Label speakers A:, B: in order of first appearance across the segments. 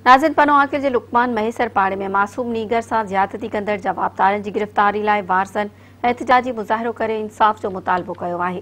A: ناظرين پنو عاقل جي لقمان مهيسر پاڙي ۾ معصوم نينگر سان زيادتي ڪندڙ جوابدارن جي گرفتاري لاء وارثن احتجاجي مظاهرو ڪري انصاف جو مطالبو ڪيو آهي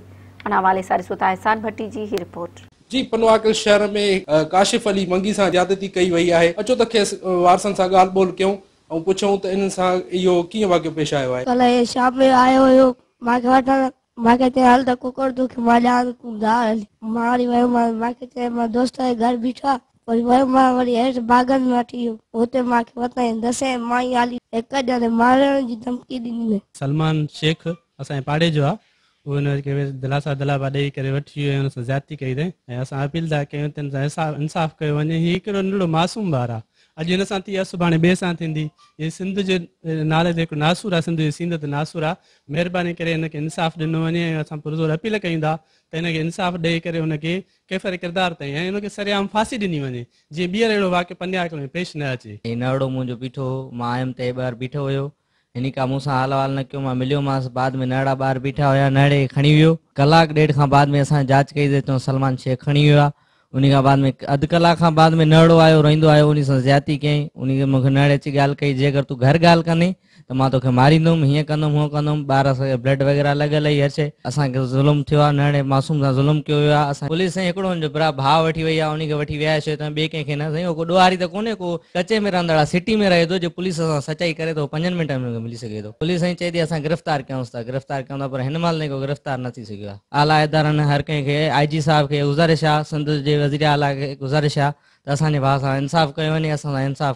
A: ان حوالي سان ڏسو ٿا احسان ڀٽي جي هي رپورٽ. جي پنو عاقل
B: شهر ۾ ڪاشف علي منگي سان زيادتي ڪئي وئي آهي اچو ته کيس وارثن سان ڳالهه ٻولهه ڪيون ۽ پڇون ته انهن سان اهو ڪيئن واقعو پيش آيو آهي. ڪلهه شام جو آيو
C: هيو مانکي وٺڻ. مان کي چيائين هل ته ڪوڪڙ توکي مان ڏيان ته تون جا هل. مان وري ويومانس مان کي چيائين مان دوست جي گهر بيٺو آهي وري ويم مان وري هيٺ باغن ۾ وٺي ويو اتي مان کي وتايائين دسيائين مائي هالي هڪ ڄڻي مارڻ جي ڌمڪي ڏني هئي. سلمان شيخ
D: اسان جي پاڙي جو آهي اهو هن کي دلاسا دلابا ڏئي ڪري وٺي ويو ۽ ان سان زيادتي ڪئي اٿئين ۽ اسان اپيل ٿا ڪيون ته هن سان انصاف انصاف ڪيو وڃي هي ڪهڙو ننڍڙو معصوم ٻار آهي اڄ هن سان ٿي آهي سڀاڻي ٻئي سان ٿيندي هي سنڌ جي نالي تي هڪ ناسور آهي سنڌ جي سينڌ تي ناسور آهي مهرباني ڪري هن کي انصاف ڏنو وڃي ۽ اسان پرزور اپيل ڪيون ٿا ته هن کي انصاف ڏئي ڪري هن کي ڪيفر ڪردار تائين ۽ هن کي سرعام ڦاسي ڏني وڃي جيئن ٻيهر اهڙو واقعو پنڊياڪ ۾ پيش نه اچي. هي نرڙو منهنجو بيٺو
E: هو، مان آيم ته هي ٻاهر بيٺو هيو. هن ڪا مون سان حال احوال نه ڪيو. مان مليومانس. بعد ۾ نرڙا ٻاهر بيٺا هيا. نرڙي کي کڻي ويو. ڪلاڪ ڏيڍ کان بعد ۾ اسان جاچ ڪئي ته هتان سلمان شيخ کڻي ويو آهي. انهي کان بعد ۾ اڌ ڪلاڪ کان بعد ۾ نهڙو آيو، روئيندو آيو، انهي سان زيادتي ڪيائين، انهي کي مون کي نهڙي اچي ڳالهه ڪئي، جي اگر تون گهر ڳالهه ڪندين ته مان توکي ماريندوم، هيئن ڪندوم، هونئن ڪندوم، ٻار اسان کي بلڊ وغيره لڳل هئي، هر شئي، اسان کي ظلم ٿيو آهي، نهڙي معصوم سان ظلم ڪيو ويو آهي، پوليس سائين هڪڙو هن جو برا ڀاء وٺي وئي آهي، انهي کي وٺي ويا آهيو شيطان ٻئي ڪنهن کي نه، سائين اهو ڪو ڏوهاري ته ڪونهي، ڪو ڪچي ۾ رهندڙ آهي، سٽي ۾ رهي ٿو، جي پوليس سان سچائي ڪري ته اهو پنجن منٽن ۾ هن کي ملي سگهي ٿو، پوليس سائين چئي ٿي اسان گرفتار ڪيائونس ٿا، گرفتار ڪيائون ٿا، پر هن مهل تائين ڪو گرفتار نه ٿي سگهيو آهي. اعليٰ ادارن هر ڪنهن کي آء جي صاحب کي گذارش آ سنڌ جي وزير اعليٰ کي گذارش آ ته اسان جي ڀاء سان انصاف ڪيو وڃي اسان سان انصاف